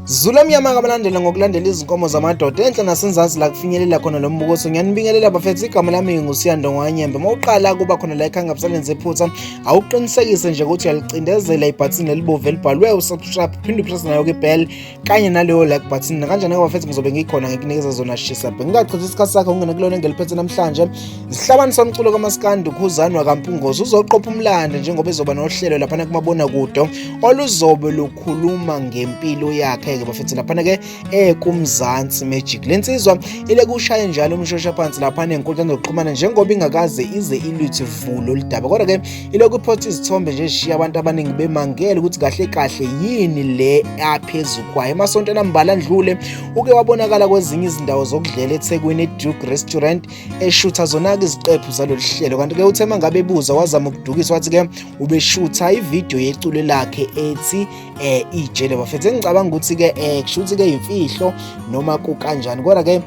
Zula mnyama kabalandela ngokulandela izinkomo zamadoda enhla nasenzansi la kufinyelela khona lo mbukoso ngiyanibingelela bafethu igama lami ngingusiyando ngwanyembe uma uqala kuba khona la ekhanga busalenze iphutha awuqinisekise nje ukuthi uyalicindezela ibhathini lelibovu elibhalwe usubscribe phinde upressa nayo kibell kanye naleyo like button nakanjani ke bafethu ngizobe ngikhona ngikunikeza zona shisa bengingachithi isikhathi sakho ungene kulona engeliphethe namhlanje Isihlabani somculo kamaskandi uKhuzani wakampungozi uzoqopha umlando njengoba ezoba nohlelo laphana kumabona kude oluzobe lukhuluma ngempilo yakhe ke bafethu laphana ke ekumzansi magic lensizwa ile kushaye njalo umshosha phansi laphana enkundleni zokuxhumana njengoba ingakaze ize iluthi vulo lidaba kodwa ke ile kuphotha izithombe nje shishiya abantu abaningi bemangele ukuthi kahle kahle yini le aphezulu kwayo emasontweni ambala ndlule uke wabonakala kwezinye izindawo zokudlela eThekwini Duke Restaurant eshutha zona-ke iziqephu zalolu hlelo kanti-ke uthe uma ngabe ebuza wazama ukudukisa wathi-ke ubeshutha ividiyo yeculo lakhe ethi eh ijele bafethu engicabanga ukuthi-ke eh kushuthi-ke imfihlo noma kukanjani kodwa-ke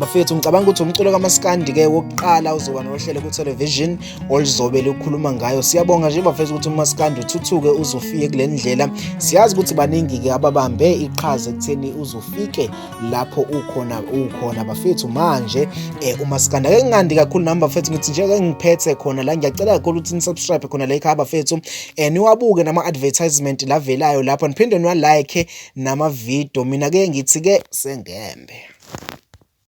bafethu ngicabanga ukuthi umculo kamaskandi-ke wokuqala uzoba nohlelo kutelevision oluzobe lukhuluma ngayo siyabonga nje bafethu ukuthi umaskandi uthuthuke uzofike kule ndlela siyazi ukuthi baningi-ke ababambe iqhaza ekutheni uzofike lapho ukhona ukhona bafethu manje eh uma sikanda ke ngandi kakhulu nami bafethu ngithi nje ke ngiphethe khona la ngiyacela kakhulu ukuthi nisubscribe khona la ekhaya bafethu eh niwabuke nama advertisement lavelayo lapho niphinde niwa like nama video mina ke ngithi ke sengembe